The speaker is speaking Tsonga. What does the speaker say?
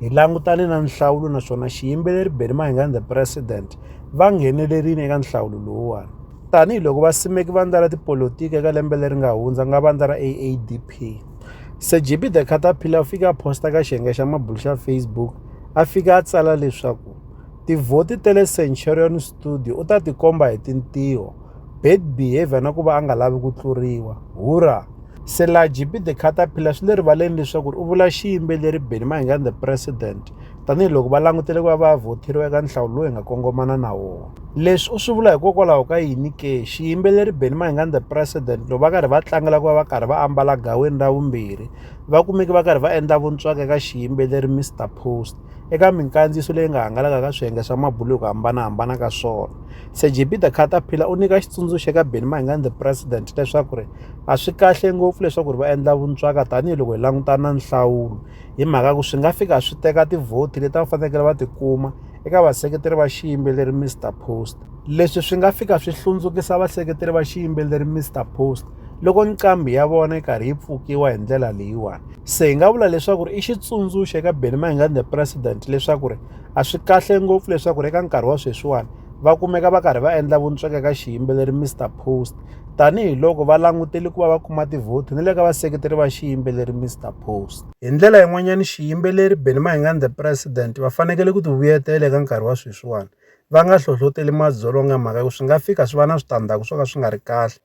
Hi langutane na nhlawulo naswona xiyimbeleri Benny Mahingani the President va nghenelerile eka nhlawulo lowuwani tanihi loko vasimeki vandla ra tipolotiki eka lembe leri nga hundza nga vandla ra AADP Sejibi the Caterpillar u fike a posta ka xiyenge xa mabulu xa Facebook a fika a tsala leswaku tivhoti ta le Centurion Studio u ta tikomba hi tintiho bad behavior na ku va a nga lavi ku tluriwa hura selaji be the caterpillar swi le rivaleni leswaku u vula xiyimbeleri benny mahingani the president tanihiloko va langutele ku va va vhotheriwa eka nhlawulo lowu hi nga kongomana na wona leswi u swi vula hikokwalaho ka yini ke xiyimbeleri benny mahingani the president loko va karhi va tlangela ku va va karhi va ambala gaweni ra vumbirhi va kumeke va karhi va endla vuntswaka eka xiyimbeleri mr post eka minkandziyiso leyi nga hangalaka ka swiyenge swa mabulo hi ku hambanahambana ka swona Sir JP the Caterpillar u nyika xitsundzuxo eka Benny Mayengani the president leswaku ri a swi kahle ngopfu leswaku ri va endla vuntswaka tanihiloko hi langutana na nhlawulo hi mhaka ku swi nga fika swi teka tivhoti leti va fanekele va ti kuma eka vaseketeri va xiyimbeleri Mr Post leswi swi nga fika swi hlundzukisa vaseketeri va xiyimbeleri Mr Post loko nqambi ya vona yi karhi yi pfukiwa hi ndlela leyiwani se hi nga vula leswaku ri i xitsundzuxo eka Benny Mayengani the president leswaku ri a swi kahle ngopfu leswaku ri eka nkarhi wa sweswiwani va kumeka va karhi va endla vuntsweka ka xiyimbeleri Mr Post tanihiloko va langutele ku va va kuma tivhoti ni le ka vaseketeri va xiyimbeleri Mr Post hi ndlela yin'wanyana xiyimbeleri Benny Mayengani the president va fanekele ku tivuyetela eka nkarhi wa sweswiwani va nga hlohloteli madzolonga mhaka ku swi nga fika swi va na switandzhaku swo ka swi nga ri kahle